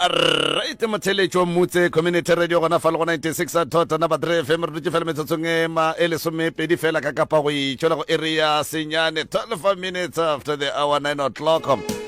right motheletši wa mmutse community radio gona fa le go 96 a thota na badre fm re dutse fela metsotsong e ma e lesomepedi fela ka kapa go itšola go area senyane 12 minutes after the hour 9 o'clock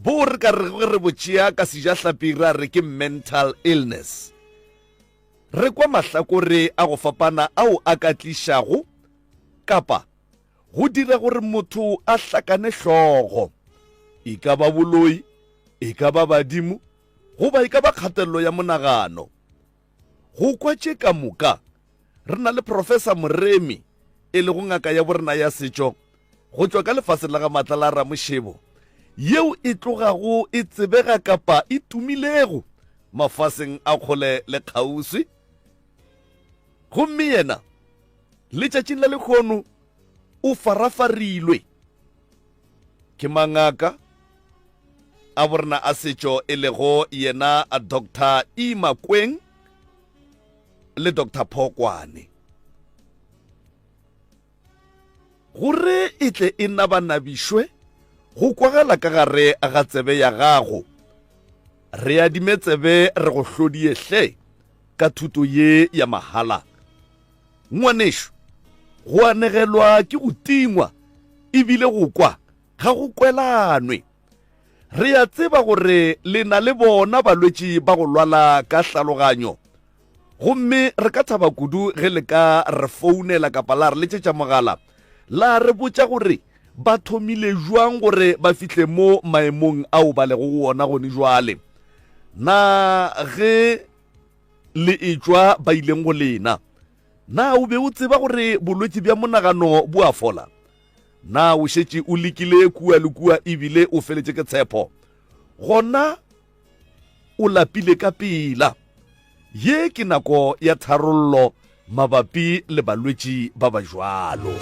Bo re ka rego ge re bo tšea ka sejahlapi ra re ke mental illness, re kwa mahlakore a go fapana ao a ka tlišago kapa go dira gore motho a hlakane hlogo, e ka ba boloi, e ka ba badimo goba e ka ba kgatelelo ya monagano. Go kwa tše ka moka, re na le Professor Moremi, e lego ngaka ya borena ya setšo go tšwa ka lefaseng la ga Matla la Ramošebo, yeo e tlogago e tsebega kapa e tumilego mafaseng a kgole le kgauswi. Gomme yena, letšatšing la lekgono, o farafarilwe Ke mangaka a borena a setšo e lego yena Doctor E. Makweng le Doctor Phokwane. Gore e tle e nabanabišwe go kwagala ka gare ga tsebe ya gago, re adime tsebe re go hlodie hle ka thuto ye ya mahala. Ngwanešu, go anegelwa ke go tingwa e bile go kwa ga go kwelanwe. Re a tseba gore le na le bona balwetši ba go lwala ka hlaloganyo, gomme re ka thaba kudu ge le ka re founela kapa la re letšetša mogala la re botša gore ba thomile bjang gore ba fihle mo maemong ao ba lego go ona gone bjale. Na ge Le etšwa ba ileng go lena. Na o be o tseba gore bolwetši bja monagano bo a fola? Na o šetše o lekile kua le kua ebile o feletše ke tshepho? Gona o lapile ka pela. Ye ke nako ya tharollo mabapi le balwetši ba ba jwalo.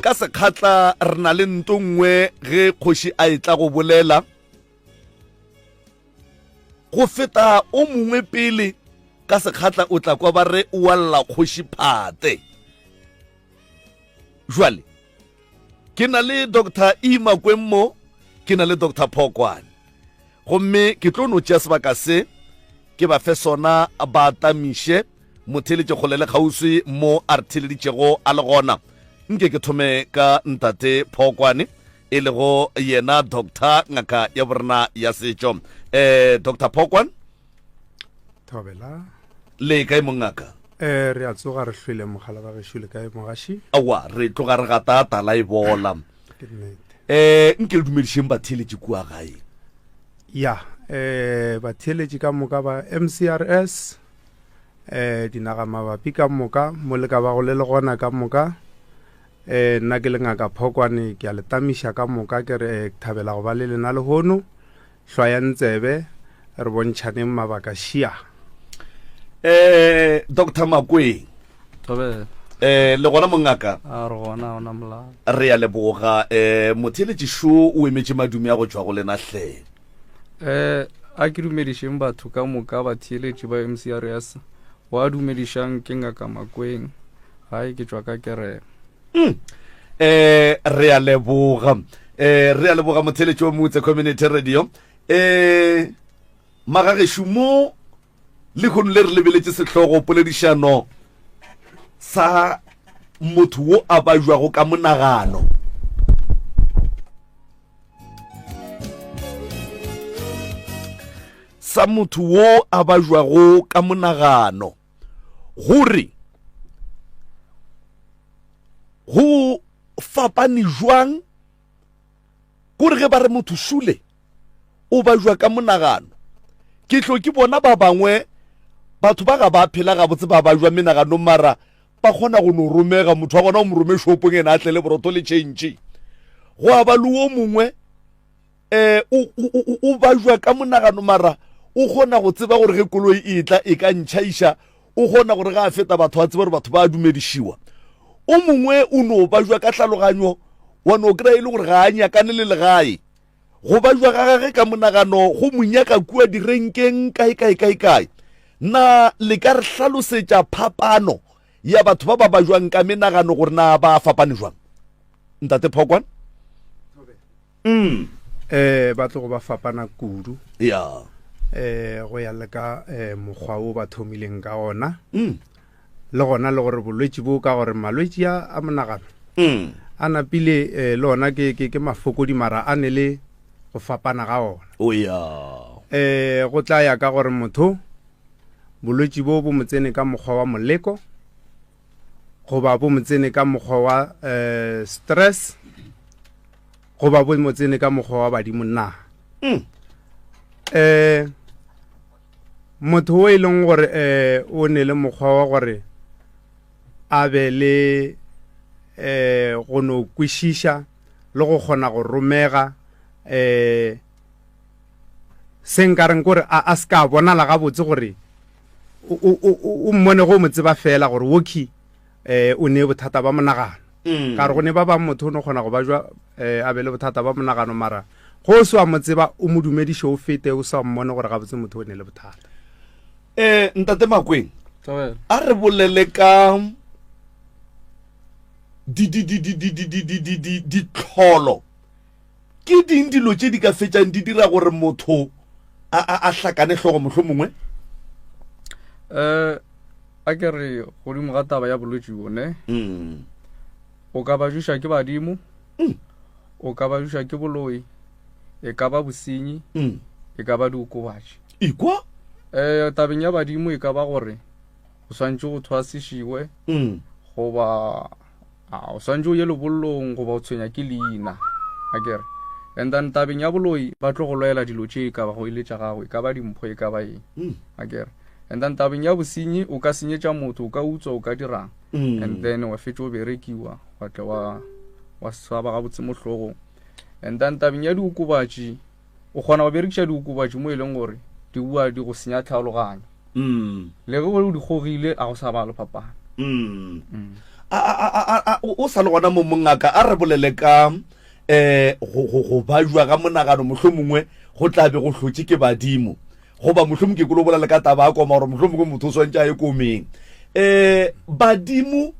Ka sekgatla re na le nto nngwe ge kgoši a etla go bolela. go feta o mongwe pele ka sekgatla o tla kwa ba re o walla kgoši phate jwale ke na le dr imakweng mo ke na le dr phokwane gomme ke tlo no tšea sebaka se ke ba fe sona ba tamiše motheletše kgole le kgauswi mo a re theleditšego a le gona nke ke thome ka ntate phokwane e lego yena doctor ngaka ya borena ya setšo eh doctor phokwan thobela le kae mongaka eh re a tsoga re hlwele mogala ba gešo le kae mogaši awa re tloga re gata tala e bola ke nnete eh nke le dumedišeng batheeletše kua gae ya eh batheeletši ka moka ba mcrs eh dinaga mabapi ka moka mo le ka bago le le gona ka moka Ee, nna ke le Ngaka Phokwane, ke a le tamiša ka moka ke re ke thabela go ba le lena lehono. Hlwayang tsebe, re bontšhaneng mabaka šia. Eh, Doctor Makweng. Thobela. Eh, le gona mongaka? A re gona ona molao. Re ya leboga eh motheletši šo o emetše madumi a go tšwa go lena hle. Eh, a ke dumedišeng batho ka moka batheeletši ba MCRS. Wa dumedišang ke ngaka Makweng. Hai ke tšwa ka kereke. Mm. Eh re a leboga. Eh re a leboga motheletši wa Mutse Community Radio. Eh magageshu mo le kgono le re lebeletše sehlogo poledišano sa motho wo a bajwago ka monagano sa motho wo a bajwago ka monagano gore go fapane jwang gore ge ba re motho šule o ba jwa ka monagano ke tlo ke bona ba bangwe batho ba ga ba phela gabotse ba ba jwa menaganong mara ba kgona go no romega motho wa gona o mo rome shopong ene a tlele boroto le change go a ba le o mongwe eh o o o bajwa ka monagano mara o kgona go tseba gore ge koloi e tla e ka ntšhaiša o kgona gore ga a feta batho a tseba gore batho ba dumedišiwa o mongwe o no bajwa ka tlhaloganyo wa no kry e le gore ga a nyakane le legae go bajwa ga gage ka monagano go monyaka kua direnkeng kae kae kae kae na le ka re hlalosetša phapano ya batho ba ba bajwang ka menagano gore na ba fapane jwang ntate phokwana mm. eh, ba tlogo ba fapana kudu yeah. eh, go ya le ka eh, mokgwa o ba thomileng ka ona mm. le gona le gore bolwetši bo ka gore malwetši a monagano mm. a napile eh, le ona ke, ke, ke mafokodi mara a ne le go fapana ga ona oh, yeah. eh, go tla ya ka gore motho bolwetši bo bo mo tsene ka mokgwa wa moleko goba bo mo tsene ka mokgwa wa eh, stress goba bo mo tsene ka mokgwa wa badimo na um motho o e leng gore um o ne le mokgwa wa gore a be le um go no kwešiša le go kgona go romega um se nka reng gore a, a se ka bonala gabotse gore o mmone go mo tseba fela gore woki eh o ne bothata ba monagano mm. ka re go ne ba bang motho o ne kgona go ba jwa eh a be le bothata ba monagano mara go o swa mo tseba o mo dumediše o fete o sa mmone gore gabotse motho o ne le bothata eh ntate makweng a re bolele ka ditlholo Ke ding dilo tše di ka fetšang di dira gore motho a, a, a hlakane hlogo mohlo mongwe? um a ke re godimo ga taba ya bolwetši bone mm. o ka bajuša ke badimo mm. o ka bajuša ke boloi e ka ba bosenyi mm. e ka ba diokobatši ikwa um tabeng ya badimo e ka ba gore o swantšwe go thwasišiwe mm. goba a o swantse o ye lebollong goba o tshwenya ke leina a kere and then tabeng ya boloi ba tlo go lwela dilo tše e ka ba go ile tša gago e ka ba dimpho e ka ba eng mm. a kere and then tabeng ya bosenyi o ka senyetša motho o ka utswa o ka dirang mm. and then wa fetša o berekiwa wa tle wa wa swaba gabotse mohlogong and then tabeng ya diokobatši o kgona go berekiša diokobatši mo e leng gore di bua di go senya tlhaologanyo mm. le ge o di kgogile a go sa balo phapano mm. mm. o sa le gona mo mongaka a re bolele ka eh go bajwa ga monagano mohlho mongwe go tla be go hlotse ke badimo goba mohlho mongwe ke kolo bolele ka taba a koma gore mohlho mongwe motho o swantse a ye komeng eh badimo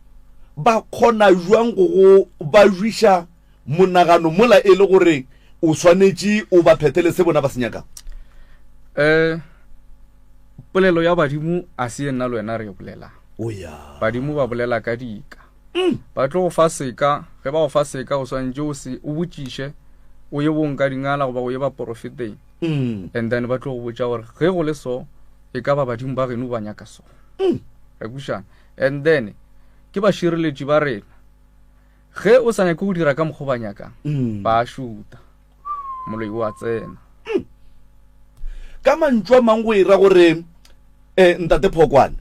ba kgona jwang go go bajwisha monagano mola e le gore o swanetše o ba phethele se bona ba se nyakago um polelo ya badimo a se ye nna le wena re e bolelang o ya badimo ba bolela ka dika mm. ba tlo go fa seka ge ba go fa seka o swanetše o se o botšiše o ye bong ka dingala goba o ye baporofeteng mm. and then ba tlo go botša gore ge go le so e ka ba badimo ba geno ba nyaka so mm. re kušana and then ke bašireletši ba rena Ge o sa nyake go dira ka mokgwa ba nyakang, mm. ba šuta. Moloi o a tsena. Mm. Ka mantšu a mang go ira gore eh, ntate Phokwane,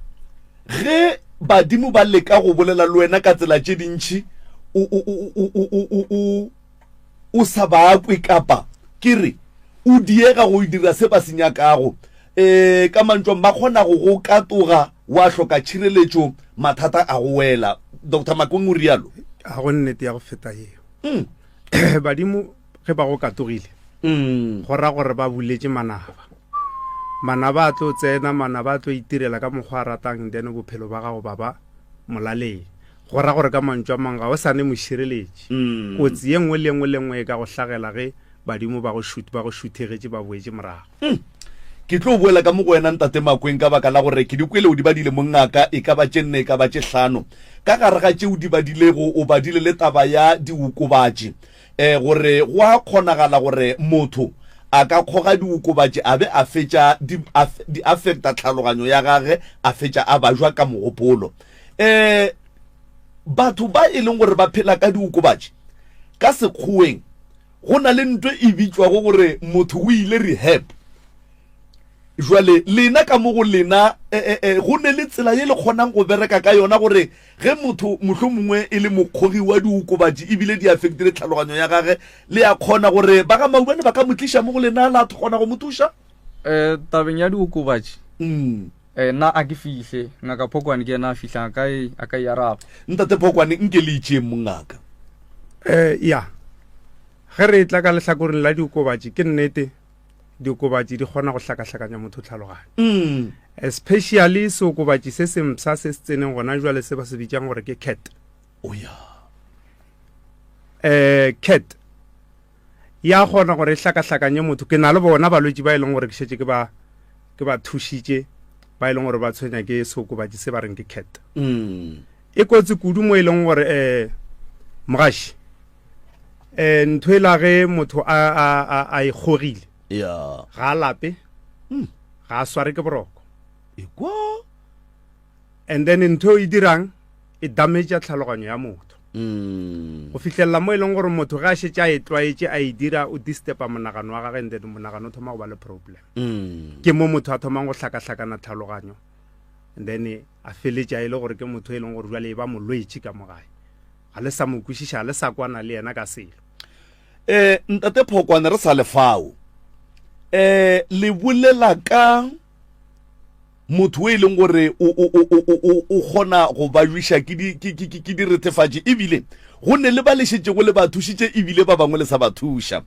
ge badimo ba leka go bolela le wena ka tsela tše dintšhi o sa bakwe kapa ke re o diega go dira se ba se nyakago E, ka mantšong ba kgona go go katoga wa hloka tšhireletšo mathata a go wela. Doctor Makong o rialo. Ga go nnete ya go feta yeo. Mm. Badimo ge ba go katogile mm. go ra gore ba buletše manaba manaba a tlo tsena manaba a tlo itirela ka mokgwa a ratang then bophelo ba gago baba molaleng go ra gore ka mantšwa mang ga o sane mošireletši mm. kotsi ye nngwe le nngwe le nngwe e ka go hlagela ge Badimo ba go šut, ba go šuthegetše ba boetše morago. Umm. Ke tlo boela ka mo go wena, Ntate Makweng, ka baka la gore ke di kwele o di badile mongaka, e ka ba tše nne e ka ba tše hlano. Ka gare ga tše o di badilego, o badile le taba ya diokobatši, eh, gore go a kgonagala gore motho a ka kgoga diokobatši a be a fetša di, a, di affecta tlhaloganyo ya gage, a fetša a bajwa ka mogopolo. Eh, batho ba e leng gore ba phela ka diokobatši, ka Sekgoweng, Go na le nto e bitšwago gore motho o ile rehab. Jwale lena ka mo go lena e, e, e, go ne le tsela ye le kgonang go bereka ka yona gore ge motho mohlho mongwe e le mokgogi wa diokobatši ebile di affectile tlhaloganyo ya gage le ya kgona gore ba ga maubane ba ka mo tliša mo go lena la kgona go mo thuša um tabeng ya diokobatši mm. Ee, nna a ke fihle. Ngaka Phokoane ke yena a fihlang, a ka e, a ka e araba. Ntate Phokoane, nke le itšeeng mongaka. Ee, ya. Ge re etla ka lehlakoreng la diokobatši, ke nnete, diokobatši di kgona go hlakahlakanya motho tlhaloganyo. Especially seokobatši se sempsha se se tseneng gona jwale se ba se bitšang gore ke cat. O ya. Ee, cat. ya kgona gore e hlakahlakanye motho ke na le bona balwetši ba e leng gore ke šetše ke ba ke ba thušitše ba e leng gore ba tshwenya ke seokobatši se ba reng ke cat mm. e kotsi kudu mo e leng gore um eh, mogaši um eh, ntho e lage motho a e kgogile ga a lape hmm. ga a sware ke boroko and then ntho e dirang e dametša tlhaloganyo ya motho mm. go fitlhelela mo e leng gore motho ge a šetse a e tlwaetše a e dira o distepa monagano wa gage and then monagano o thoma go ba le problem mm. ke mo motho a thomang go hlakahlakana tlhaloganyo and then a feletša e le gore ke motho e leng gore jale e ba molwetši ka mogae ga le sa mo kwešiša ga le sa kwana le yena ka selo um ntate phokwane re sa lefao um le bolela ka motho e leng gore o kgona go ba jwiša ke diretefatši ebile go ne le ba le šetšego le ba thušitše ebile ba bangwe le sa ba thuša um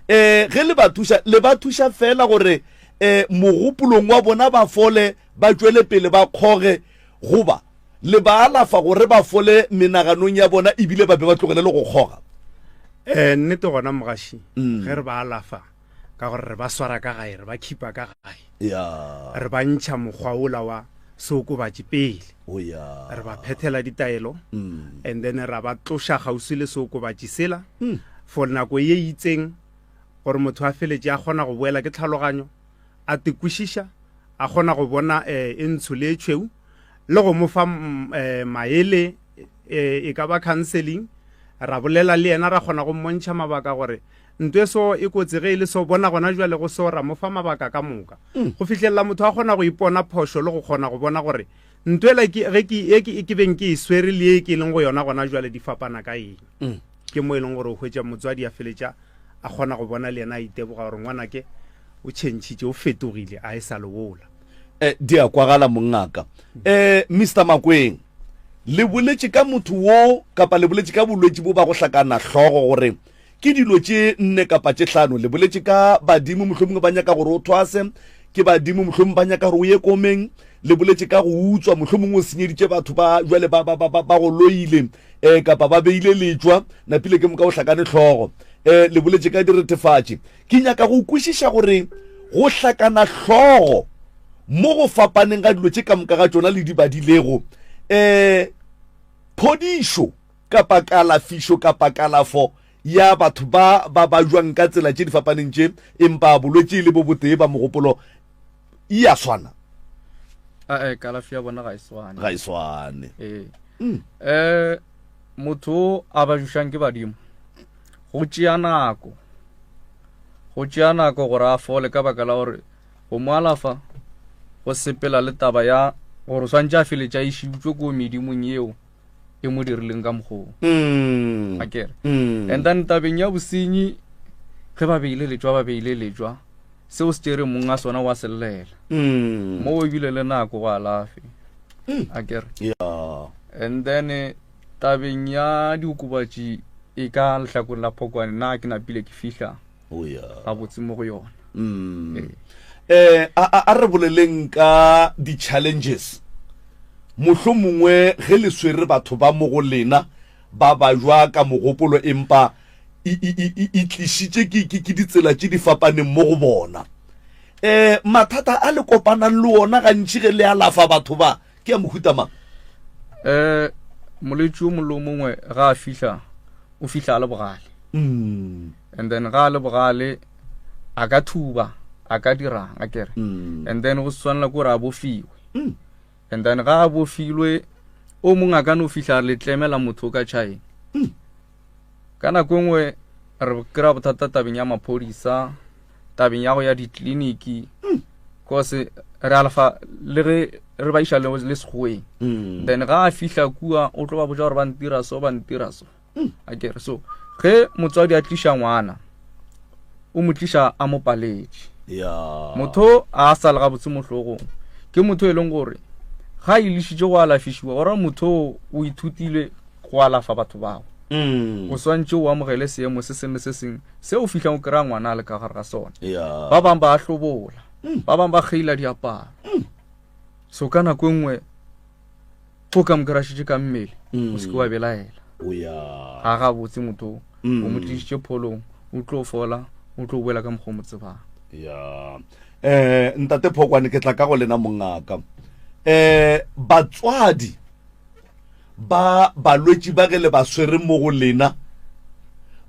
eh, ge le ba thuša le ba thuša fela gore um mogopolong wa bona ba fole ba tšwele pele ba kgoge goba le ba alafa gore ba fole menaganong ya bona ebile ba be ba tlogele le go kgoga um nnete gona mogaši mm. ge re ba alafa ka gore re ba swara ka gae re ba khipa ka gae ya re ba ntšha mokgwa ola wa seokobatši pele o ya re ba phethela ditaelo Mm. and then ra ba tloša kgauswi le seokobatši sela Mm. for nako ye e itseng gore motho a feletše a kgona go boela ke tlhaloganyo a tekwešiša a kgona go bona um e ntsho le e tšhweu le go mo fa mm, eh, maele eh, e ka ba counseling ra bolela le yena ra kgona go mmontšha mabaka gore Ntwe so e kotsi ge e le so bona gona jwa lego so ra mofa mabaka ka moka. Mm. Go fihlelela motho a gona go ipona phošo le go gona go bona gore ntwe la ke ge ke e ke ke beng ke e swere le e ke leng go yona gona jwa le di fapana ka eng. Mm. Ke mo e leng gore o hwetša motswadi a feletša a gona go bona le yena a iteboga gore ngwana ke o chentšhitše o fetogile a e sa lewola. Eh, di a kwagala mongaka. Eh, Mr. Makweng, le boletše ka motho wo kapa le boletše ka bolwetši bo ba go hlakana hlogo gore Ke dilo tše nne kapa tše hlano. Le boletše ka badimo, mohlomongwe ba nyaka gore o thwase. Ke badimo, mohlomongwe ba nyaka gore o ye komeng. Le boletše ka go utswa, mohlomongwe o senyeditše batho ba jwale ba, ba, ba, ba, ba go loile um kapa ba beile letšwa, napile ke moka o hlakane hlogo. Um le boletše ka diretefatši. Ke nyaka go kwešiša gore go hlakana hlogo mo go fapaneng ga dilo tše ka moka ga tšona le di badilego um phodišo. kapa kalafišo kapa kalafo ya batho ba ba bajwang ka tsela tše di fapaneng tše empa bolwetši le bo botee ba mogopolo e a swana ae kalafi ya bona ga e swane ga e swane ee um motho o a bajušang ke badimo go tšea nako go tšea nako gore a fole ka baka la gore go mo alafa go sepela le taba ya gore o swantse a feletša e šiutswe ko medimong yeo e mo dirileng ka mokgoo mm. a kere mm. and then tabeng ya bosenyi ge ba beile letswa ba beile letswa seo se tšere mong a sona wa sellela mm. mo o ebile le nako go alafe a kere and then eh, tabeng ya diokobatši e ka lehlakong la phokwane na ke napile ke fihla oh, yeah. gabotse mo go yona mm. ee. eh, a, a, a re boleleng ka di-challenges mohlo mongwe ge le swere batho ba mo go lena ba ba jwa ka mogopolo empa e tlisitše ke ditsela tše di fapaneng mo go bona um mathata a le kopanang le ona gantši ge le alafa batho ba ke a mohuta mang um molwetši o molo mongwe ga a fihla o fihla a le bogale mm. and then ga le bogale a ka thuba a ka dirang a kere mm. and then go swanela gore a bofiwe mm. and then ga a bofilwe o mongwe a ka no fitlha le tlemela motho ka china mm. ka nako nngwe re kry-a bothata tabeng ya maphodisa tabeng ya go ya ditleliniki kose re alafa le ge re ba iša le segoweng then ga a fihla kua o tlo ba botsa gore ba ntira so ba ntira so hmm, a kere so ge motswadi a tliša ngwana o mo tliša a mo paletše motho a sa le gabotse mohlogong ke motho e leng gore ga a ilešitše go alafišiwa ora motho o ithutile go alafa batho bao mm. o swantse o amogele seemo se sengwe se sengwe se o fitlhang o kry-a ngwana a le ka gare ga sone ba bangwe ba a hlobola mm. ba bangwe ba kgeila diaparo mm. so ka nako e nngwe o ka mokrašitše ka mmele o seke wa belaela ga ga botse motho o mo tlišitše pholong o tlo fola o tlo boela ka mokgwa o mo tsebang ya eh ntate phokwane ke tla ka go lena mongaka eh batswadi ba balwetši ba ge le ba swere mo go lena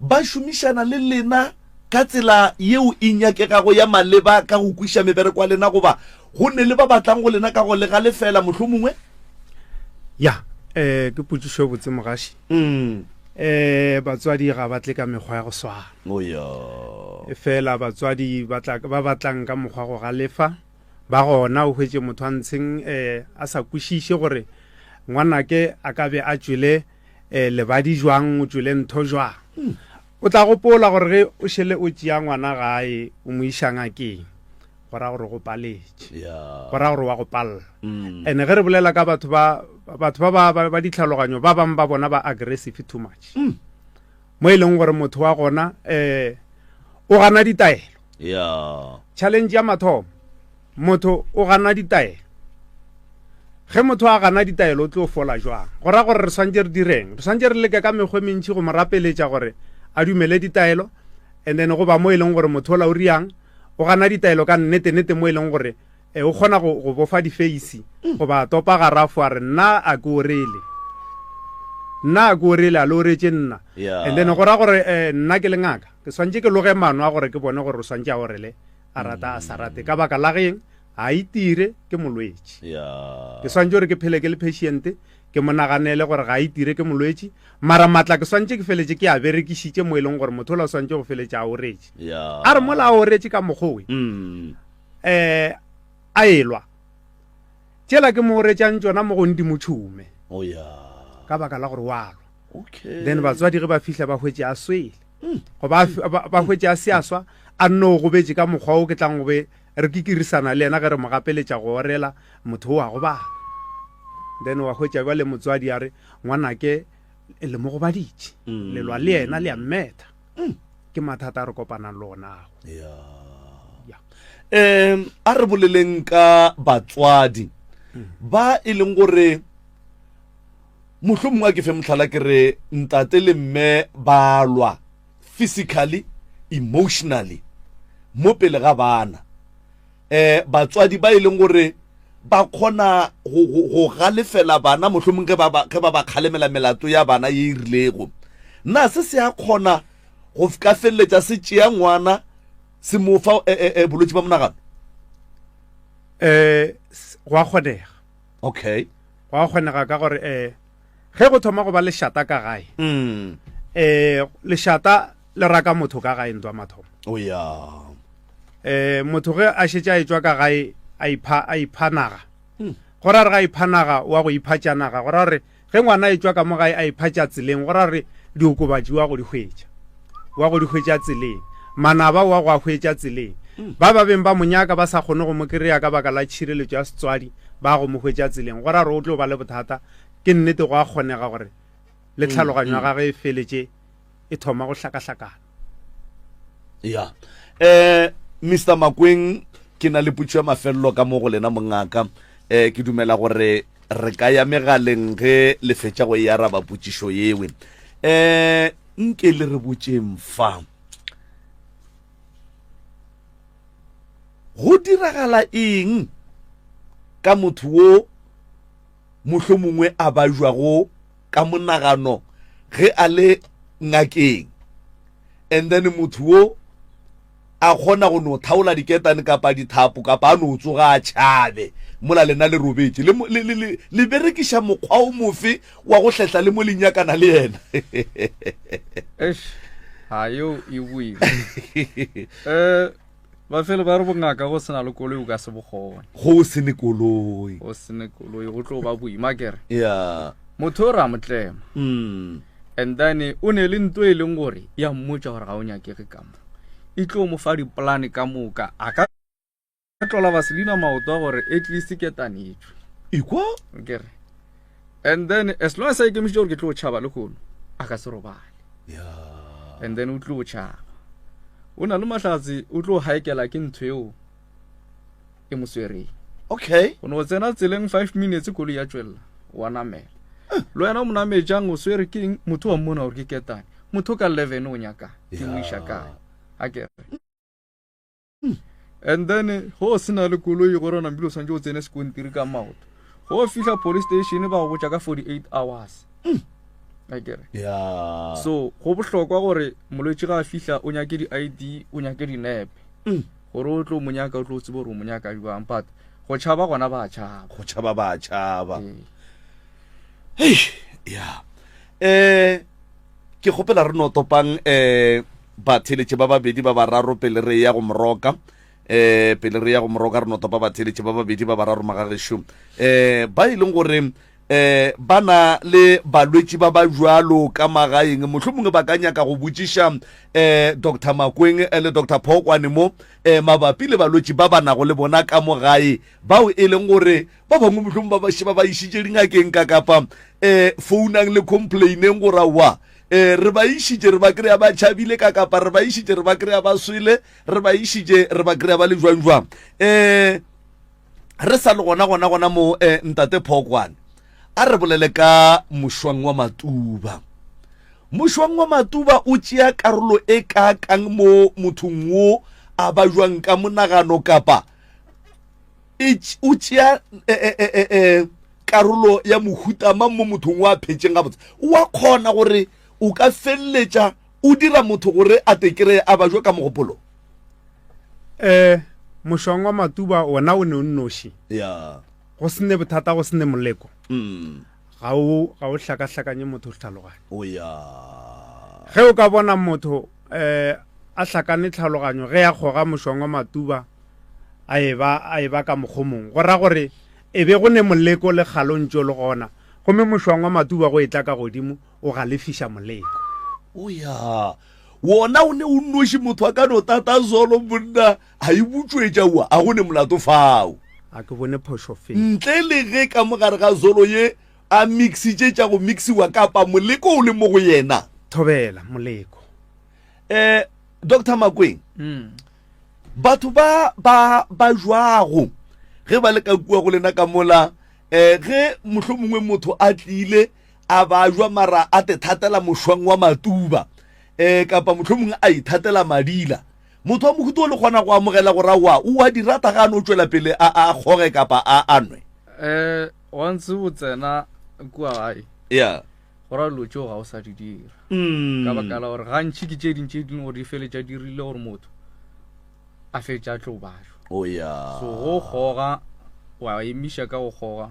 ba šomišana le lena ka tsela yeo e nyakegago ya maleba ka go kwiša mebereko ya lena goba Go nne le ba ba tlang go lena ka go le galefela, mohlomongwe. Ya, eh, ke potšišo e botse, mogaši. Mm. Eh, batswadi ga ba tle ka mekgwa ya go swana. Oh, ya. Efela batswadi ba tla ba batlang ka mokgwa go galefa, ba gona o hwetše motho a ntsheng eh a sa kwešiše gore ngwanake a ka be a tšwele eh lebadi jwang, o tšwele ntho jwang. Hmm. O tla gopola gore ge o šele o tšea ngwana gae o mo iša ngakeng, go ra gore go paletše go ra gore wa go palla mm. and ge re bolela ka batho ba batho ba ba ba ditlhaloganyo ba bang ba bona ba aggressive too much mm. mo e leng gore motho wa gona eh o gana ditaelo yeah challenge ya mathomo motho o gana ditaelo ge motho a gana ditaelo o tlo fola jwang go ra gore re swantse re direng re swantse re leke ka mekgwe mentšhi go mo rapeletša gore a dumele ditaelo and then go ba mo e leng gore motho o la o riang O gana ditaelo ka nnete-nete mo e leng gore e, o kgona go, go bofa difeisi goba a topa garafo a re, Nna a ke orele. Nna a ke orele, a le oretše nna. Yeah. And then go ra gore e, nna ke le ngaka. Ke swantše ke loge mano a gore ke bone gore o swantše a orele, a rata a sa rate. Ka baka la geng? A itire, ke molwetši. Yeah. Ke swantše gore ke phele ke le patient. ke mo naganele gore ga a itire ke molwetši mara matla ke swantše ke feletše ke a berekišitše mo e leng gore motho o la swantše go feletše a oretše a re mola a oretše ka mokgowe um mm. eh, a elwa tšela ke mo oretšang tsona mo go ndimo tšhume oh, ka baka la gore walwa then batswadi ge ba fihla ba hwetše a swele hmm. goba ba hwetše a se a swa a nno o gobetše ka mokgwa o ke tlang gobe Re kikirisana le yena ge re mo gapeletša go orela, motho o a gobala. Then wa hwetša bjale motswadi a re, Ngwanake, le mo gobaditše. Mm. Lelwa le yena le a mmetha. Mm. Ke mathata a re kopanang le ona ao. Yeah. Um, a re boleleng ka batswadi mm. ba e leng gore mohlomongwe a ke fe motlhala ke re ntate le mme ba lwa physically, emotionally mo pele ga bana. Um batswadi ba e leng gore ba kgona go galefela bana mohlomong ge ba ba kgalemela melato ya bana ye e rilego na se se a kgona go ka feleletša se tšea ngwana se mo fa eh, eh, eh, bolwetse ba monagano um gwa kgonega okay gwa kgonega ka gore um ge go thoma go ba lešata ka gae um lešata le raka motho ka gae ntwa mathomo oh, um motho ge a šetše a etswa ka gae a ipha a ipha naga hmm. go ra re ga ipha naga wa go ipha tša naga go ra re ge ngwana etswa ka mo gae a ipha tša tseleng go ra re diokobatši wa go di hwetša wa go di hwetša tseleng, manaba wa go a hwetša tseleng. Ba ba beng ba mo nyaka ba sa kgone go mo kry-a ka baka la tšhireletšo ya setswadi ba go mo hwetša tseleng. Go ra gore o tlo ba le bothata. Ke nnete go a kgonega gore le tlhaloganyo ya gagwe e feletše e thoma go hlakahlakana. Ya. Um Mister Makweng, ke na le potšo ya mafelelo ka mo go lena mongaka. Um ke dumela gore re ka ya megaleng ge le fetša go e araba potšišo yewe. Um Nke le re botšeng fa. Go diragala eng ka motho wo mohlomongwe a bajwago ka monagano ge a le ngakeng, and then motho wo a kgona go no thaola diketane kapa dithapo kapa a no tsoga a tšhabe mola lena le robetše le, le, le, le, le berekiša mokgwa o mofe wa go hletla le mo le nyakana le yena Eish, ha yo e boima um bafelo ba re bongaka go sena le koloi o ka se bokgone go se ne koloi go se ne koloi go tlo ba boima kere ya motho o re a motlema mm. and then o ne le nto e leng gore ya mmotsa gore ga o nyakege kamo e tlo mo fa dipolane ka moka a ka tlola vaselina maoto a gore at least ke tanetšwe ikwa kere and then as long as a ikemišitse gore ke tlo tšhaba le kgono a ka se robale yeah. and then o tlo tšhaba o na le mahlatse o tlo haekela ke ntho eo e mo swereng okay o ne o tsena tseleng five minutes koloi ya tswelela wa namela le wena o mo namejang o swere ke eng motho wa mmona gore ke ketane motho ka leven o nyakang ke mo iša kae a kere hmm. and then go se na le koloi gore o nambile o tshwanetse o tsene sekontiri ka maoto go fitlha police station ba go botsa ka forty eight hours hmm. a kere so go bohlokwa gore molwetse ga a fitlha o nyake di-id o nyake dinepe hmm. gore o tlo mo nyaka o tlo tsebe gore o mo nyaka jwang but go tšhaba gona ba tšhaba go tšhaba ba tšhaba hei ya um ke kgopela re no topang um batheletše ba babedi ba bararo pele re ya go moroka um pele re ya go moroka re no topa batheletše ba babedi ba bararo magagešo um ba e leng gore um ba na le balwetši ba ba bjalo ka magaeng mohlho mongwe ba ka nyaka go botšiša um dr makweng eh, le dr phokwane mo um mabapi le balwetši ba ba nago le bona ka mo gae bao e leng gore ba bangwe mohlho mongwe ba baše ba ba išitše dingakeng ka kapa um founang le complaineng gore wa um re ba išitše re ba kry-a ba tšhabile ka kapa re ba išitše re ba kry-a ba swele re ba išitše re ba kry-a ba le jwang jwang um re sa le gona gona gona mo eh, ntate phokwane a re bolele ka mošwang wa matuba mošwang wa matuba o tšea karolo e kaakang mo mothong wo a ba jwang ka monagano kapa e o tšea eh, eh, eh, eh, eh, karolo ya mohutama mo mothong wa phetšeng gabotse wa kgona gore o ka feleletša O dira motho gore a te kreye a bajwe ka mogopolo. Ee, mošong wa Matuba wona o ne o nnoši. Ya. Go se ne bothata, go se ne moleko. Ga o, ga o hlakahlakanye motho go tlhaloganya. O ya. Ge o ka bona motho eh, a hlakane tlhaloganyo ge a kgoga mošong wa Matuba a e ba, a e ba ka mokgomong, go ra gore e be go ne moleko le kgalo ntšo le gona, gomme mošong wa Matuba go e tla ka godimo, o galefiša moleko. O ya, wona o ne o nnoši, motho a ka no tata zolo, monna a e butšwetša ua, a go ne molato fao. A ke bone phošo fe? Ntle le ge ka mo gare ga zolo ye a mixitše tša go mixiwa, kapa moleko o le mo go yena. Thobela, moleko. Eh, Doctor Makweng, mm. batho ba, ba, ba jwago, ge ba le ka kua go lena ka mola, eh, ge mohlomongwe motho a tlile, a bajwa mara a te thatela mošwang wa matuba um kapa motlho mongwe a ithatela madila motho wa mohuto o le kgona go amogela gore aowa o wa di rata ga a no tšwela pele a a kgoge kapa a a nwe um wa ntse o tsena kua gae ya go ra dilo tšeo ga o sa di dira Mm. ka baka la gore gantši ke tše ding tše ding gore di feletša di rile gore motho a feletša a tlo bajwa o ya so go kgoga wa emiša ka go kgoga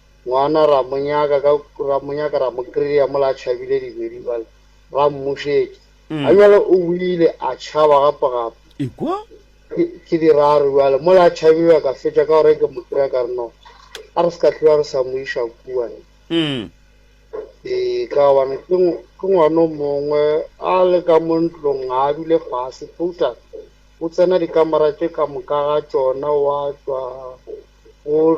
Ngwana ra mo nyaka ka, ra mo nyaka ra mo kry-a mola a tšhabile dibedi bjale ra mmušetša. A bjale o ile a tšhaba gape gape. Ekwa. Ke, ke di raro bjale. Mola a tšhabile a ka fetša ka gore ke mo kry-a ka re no, a re se ka tloga re sa mo iša kua ne. Ee, ka gobane ke, ke ngwana o mongwe a le ka mo ntlong ga a dule fase total. O tsena dikamera tše ka moka ga tšona wa tšwa o.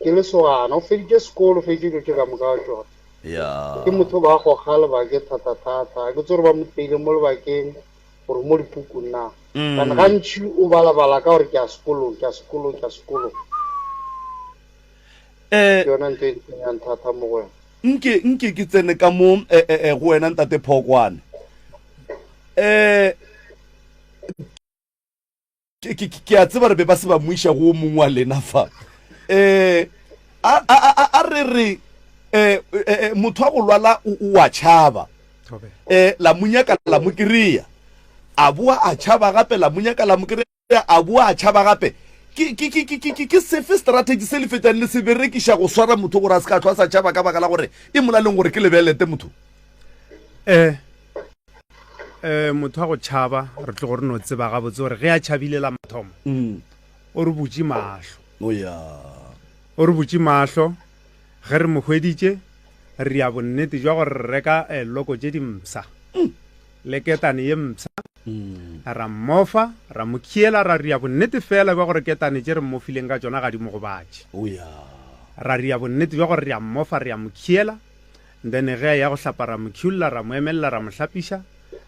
Ke lesogana, o feditše sekolo, o feditše dilo tše ka moka wa tšona. Ya. Ke motho ba goga lebake thata-thata, ga ke tsebe gore ba mo peile mo lebakeng gore mo dipukung na. Kana gantši o bala-bala ka gore ke ya sekolong, ke ya sekolong, ke ya sekolong. Ke yona ntho e ntsenyang thata mo go wena. Nke, nke ke tsene ka mo go wena Ntate Phokwane. ke a tseba re be ba se ba moiša go o mongwe wa lena fa um a re re um motho wa go lwala o a tšhaba um la monyaka la mo kry-a a boa a tšhaba gape la monyaka la mo kry-a a boa a tšhaba gape ke sefe strategy se le fetang le se berekiša go swara motho gore a se ka tlho a sa tšhaba ka baka la gore e molaleng gore ke lebelete motho um um motho wa go tšhaba re tlo gore no tseba gabotse gore ge a tšhabile la mathomo mm. o re butše mahlo oh, o re butše mahlo ge re mohweditše re ya bonnete jwa gore re reka eh, loko tše dimsa mm. le ketane ye msa mm. ra mmofa ra mo khiela ra ria bonnete fela jwa gore ketane tše re mmofileng ka tsona ga di mo gobatše oh, ra ria bonnete jwa gore re a mmofa re ya mo khiela Then ge a eya go hlapa ra mo culla, ra mo emelela, ra mo hlapiša,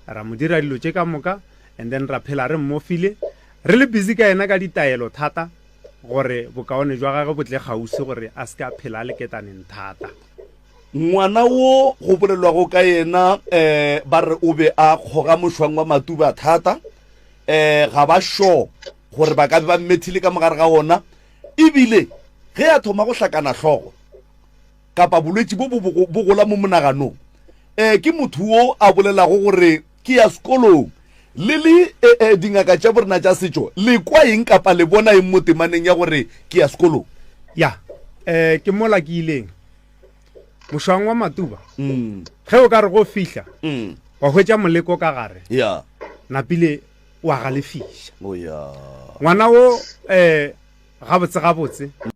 ra mo dira dilo tše ka moka and then ra phela re mmofile, re le busy ka yena ka ditaelo thata gore bokaone jwa gage bo tle kgaufsi gore a se ke a phela a le ketaneng thata. Ngwana wo go bolelwago ka yena um ba re o be a kgoga mošwang wa matuba thata, um ga ba sure gore ba ka be ba mmethile ka mo gare ga wona e bile ge a thoma go hlakana hlogo, kapa bolwetši bo bo gola mo monaganong um ke motho wo a bolelago gore ke ya sekolong le le um dingaka tša borena tša setšo le kwa eng kapa le bona eng mo temaneng ya gore ke ya sekolong ya um ke mola ke ileng mošwang wa matuba mm. ge o ka re go fihla mm. wa hwetša moleko ka gare ya napile wa galefiša oh, ngwana wo um gabotsegabotse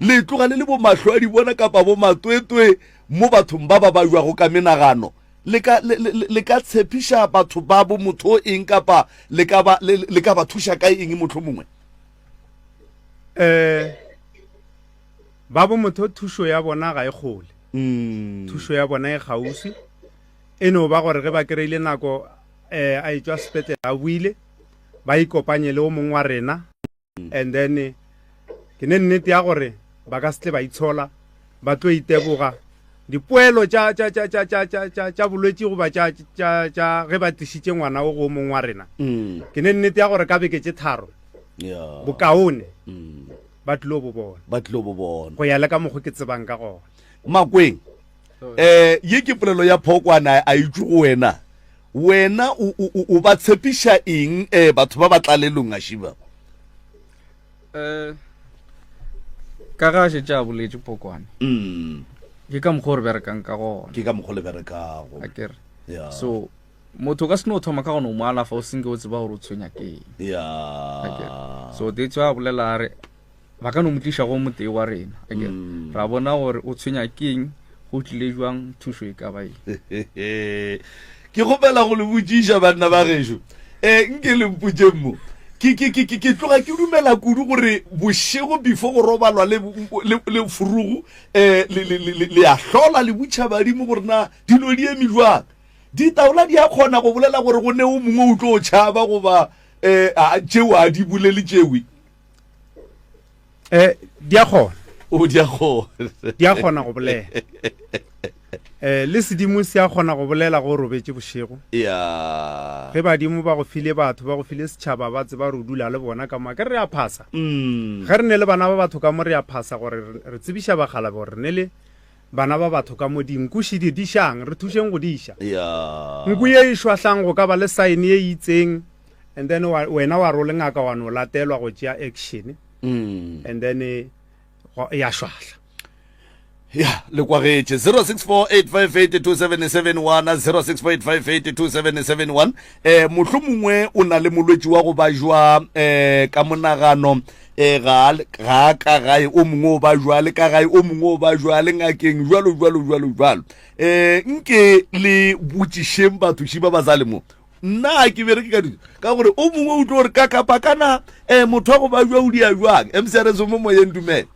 Le tloga le le bomahlwaadibona kapa bomatwetwe mo bathong ba ba bajwago ka menagano. Le ka, le, le, le ka tshepiša batho babo motho o eng kapa le ka ba, le, le ka ba thuša ka eng mohlomongwe? Eh, babo motho thušo ya bona ga e kgole. Mm. Thušo ya bona e kgauswi. E no ba gore ge ba kry-ile nako eh, a e tšwa sepetlele a buile, ba ikopanye le o mongwe wa rena. and then ke ne nnete ya gore ba ka setle ba itshola ba tlo iteboga dipoelo tša bolwetse goba tša ge ba tlisitše ngwana o go mong wa rena mm. ke ne nnete ya gore ka beke tše tharo bokaone mm. ba tlilo bo bona ba tlilo bo bona go ya le ka mokgwa ke tsebang ka gona makweng um ye ke polelo ya phokwana a itse go wena Wena o, o, o, o ba tshepiša eng eh, batho ba ba tlalelong gaši ba? Eh, ka ga a šetše a boletše pokwane. Mm. Ke ka mokgwa o re berekang ka gona. Ke ka mokgwa le berekago. A ke re. Yeah. So, motho ka se no thoma ka gona o mo alafa o senke o tseba gore o tshwenya ke eng. Yeah. A ke re. So, that's why a bolela a re, ba ka no mo tliša go motee wa rena ake mm. ra bona gore o tshwenya keng go tlile jwang thušo e ka ba eng ke gopela go le botšiša banna ba gešo um nke le mpotšeng mo ke tloga ke dumela kudu gore bošego before go robalwa le furugu um le ya hlola le butšha badimo gore na dilo di eme jwang ditaola di a kgona go bolela gore go ne o mongwe o tlo o tšhaba goba um tšeo a di bolele tšewe eh di a kgona o di a kgona di a kgona go bolela eh le sedimo se a kgona go bolela go robetše bošego ya ge badimo ba go file batho ba go file setšhaba ba tseba re o dula le bona ka moka re a phasa mm. ge re ne le bana ba batho ka mo re a phasa gore re tsebiša bagalabe gore re ne le Bana ba batho ka mo dinku še di dišang, re thušeng go diša. Nku ye e šwahlang go ka ba le saene ye itseng and then wena wa role ngaka wa no latelwa go tšea action mm. and then eh, ya šwahla ya le kwagetše 0648582771 0648582771 eh mohlomongwe o na le molwetši wa go ba jwa eh ka monagano e ga ga ka gae o mongwe o ba jwale ka gae o mongwe o ba jwale ngakeng jwalo jwalo jwalo jwalo eh nke le botšišeng batho shi ba ba sa le mo nna ke bere ke ka dilo ka gore o mongwe o tlo re ka kapa kana eh motho wa go ba jwa o dia jwang mcrs mo moyeng dumele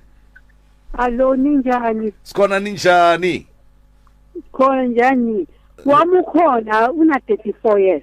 Alo ninjani? sikhona ninjani Khona njani? Wamukhona una 34 years.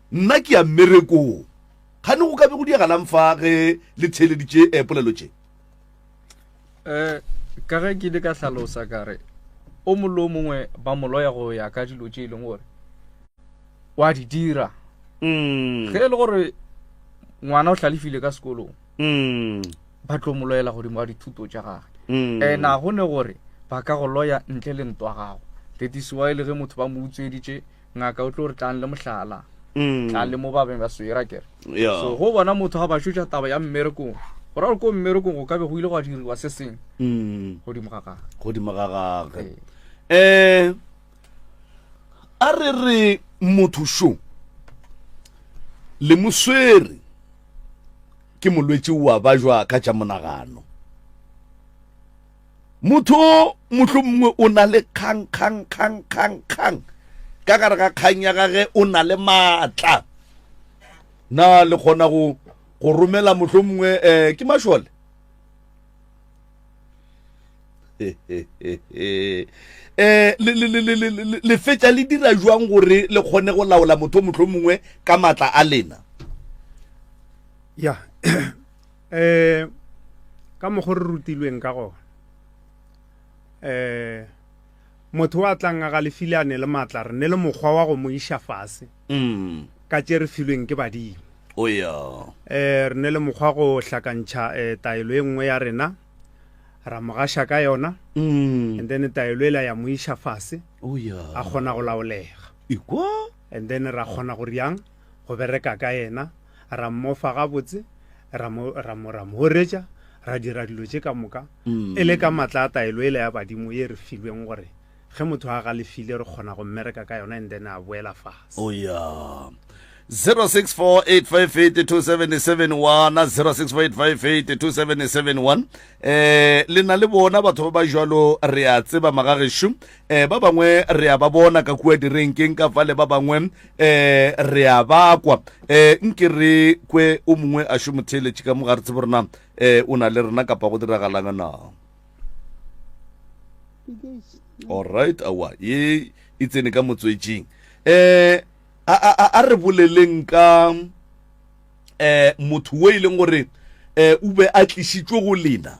Nna ke ya mmerekong. Kgane go ka be go diagalang fa ge le theeleditše eh, polelo tše? Eh, ka ge ke ile ka hlalosa ka re, o mongwe le o mongwe ba moloya go ya ka dilo tše e leng gore wa di dira mm. ge e le gore ngwana o hlalefile ka sekolong mm. ba tlo mo loyela godimo wa dithuto tša gage mm. and a go ne gore ba ka go loya ntle le ntwa gago that is why le ge motho ba mo utsweditše Ngaka o tlo re tlang le mohlala. Mm. Tlang le mo ba beng ba swera kere. Yeah. So go bona motho ga ba shotša taba ya mmerekong. Go ra gore ko mmerekong go ka be go ile go a diriwa se seng. Mm. Godimo ga gagwe. Godimo ga gagwe. Ee. Eh a re re motho šo le moswere ke molwetši wa ba jwa ka tša monagano Motho o mohlomongwe o na le kgang, kgang, kgang, kgang, kgang. Ka gare ga kgang ya gage o na le maatla. Na le kgona go go romela mohlomongwe eh, ke mašole? eh le le le le le fetša le dira jwang gore le kgone go laola motho mohlomongwe ka matla a lena ya Eh ka mokgo re rutilweng ka gona. Eh motho wa tlanga ga lefile a ne le matla re ne le mokgwa wa go mo isha fase. Mm. Ka tše re filweng ke badimo. O ya. Eh re ne le mokgwa go hlakantšha eh taelo e nngwe ya rena ra mogasha ka yona. Mm. And then taelo ela ya mo isha fase. O ya. A kgona go laolega. Ikwa. And then ra kgona go riang go bereka ka yena. ra mmofa gabotse ra mo ra mo ra moretša ra dira dilo tše ka moka mm. e le ka matla a taelo e le ya badimo ye re filweng gore ge motho a galefile re kgona go mmereka ka yona and then a boela fase oh, yeah. 0648582771 wana 0648582771 eh le na le bona batho ba ba jalo re a tseba magagesho eh ba bangwe re a ba bona ka kua direnkeng ka fale ba bangwe eh re a ba kwa eh nke re kwe o mongwe a šo motheeletše ka mo ga re tsebo rena eh o na le rena kapa go diragalanga na alright awa ye e tsene ka motswetseng eh a, a, a, a re boleleng ka eh motho o e leng gore eh o be a tlisitswe go lena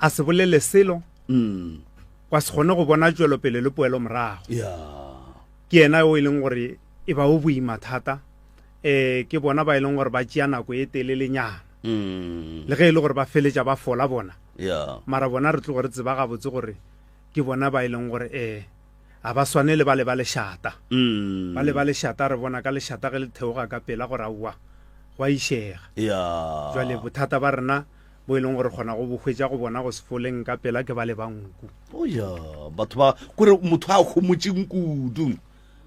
a se bolele selo mm. kwa se kgone go bona tšwelopele le poelo morago yeah. ke yena o e leng gore e ba o boima thata um ke bona ba e leng gore ba tšea nako e telelenyana mm. le ge e le gore ba feletša ba fola bona yeah. mara bona re tlo gore tseba gabotse gore ke bona ba e leng gore um ga ba swane le ba le ba lešata mm. ba le ba lešata re bona ka lešata ge le theoga ka pela gore aowa go a išega yeah. jale bothata ba rena bo e leng gore kgona go bo hwetša go bona go sefoleng ka pela ke ba le ba nku oya batho ba kore motho a gomotseng kudu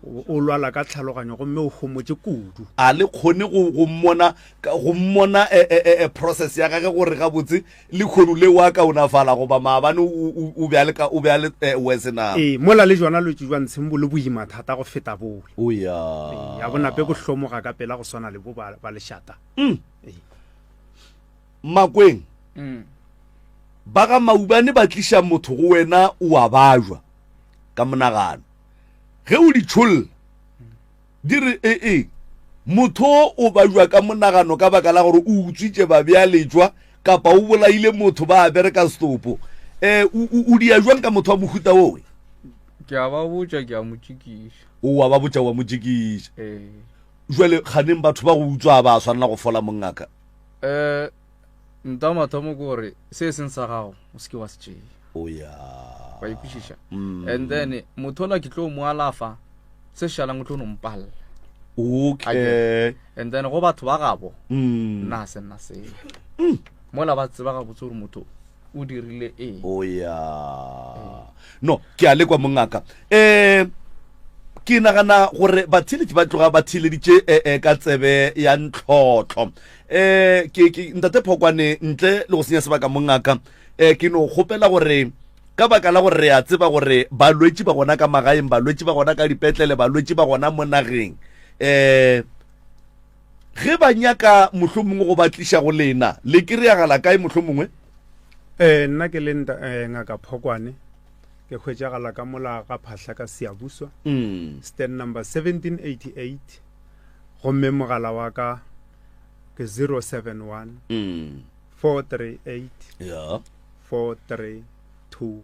o lwala ka tlhaloganyo gomme o gomotse kudu a le kgone go mmona go mmona eh, eh, eh, process ya gage gore gabotse le kgono le wa kaonafala goba maabane o be a le wese na ee mola le jona lotse jwa ntsheng bo le boima thata go feta bole o ya ya bonape bo hlomoga ka pela go swana le bo ba lešata mm. Makweng, mm. ba ga Maubane ba tliša motho go wena o a bajwa ka monagano. Ge o di tšholla, di re e e, motho o bajwa ka monagano ka baka la gore o utswitše babjaletšwa kapa o bolaile motho ba a bereka setopo. Um o dia jwang ka motho wa mohuta owe? Ke a ba botša ke a mo tšikiša. O wa ba botša wa mo tšikiša. Ee. Jwale ganeng batho ba go utswa ba swanela go fola mongaka. Eh, nta mathomo ke gore se e seng sa gago o seke wa se tšea o ya wa ikwešiša mm. and then mothola ke tlo mo alafa se šalang o tlo nompalela okay and then go batho ba gabo mm. nna se nna se mm. mola ba tseba gabotse gore motho o dirile eng o ya no ke a lekwa mongaka um ke nagana gore batheletši ba tloga ba theleditše um eh, eh, ka tsebe ya ntlhotlho um eh, ke ke ntate phokwane ntle le go senya sebaka mongaka um ke no kgopela gore ka baka la gore re a tseba gore balwetši ba gona ka magaeng balwetši ba gona ka dipetlele balwetši ba gona mo nageng um Ge ba nyaka mohlomongwe go ba tliša go lena, le kry-agala kae mohlomongwe? Ee, nna ke le nta, eh, Ngaka Phokwane. Ke hwetšagala ka mola ga phahla ka Seabuswa, mm. stand number 1788, gomme mogala wa ka ke 071 mm. 438 yeah. 432.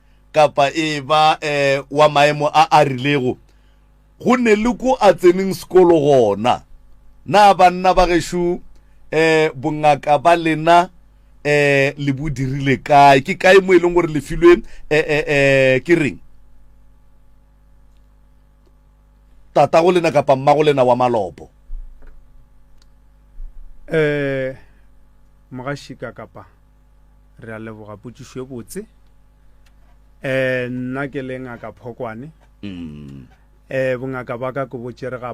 kapa e ba eh, wa maemo a a rilego go ne le ko a tseneng sekolo gona na banna ba gešo eh, bongaka ba lena eh, le bo dirile kae ke kae mo e leng gore le filwe eh, eh, eh, ke reng tata go lena kapa mma go lena wa malopo eh, mogašika kapa re a leboga potšišo e botse um nna ke le ngaka phokwane um bongaka ba ka ke botšere ga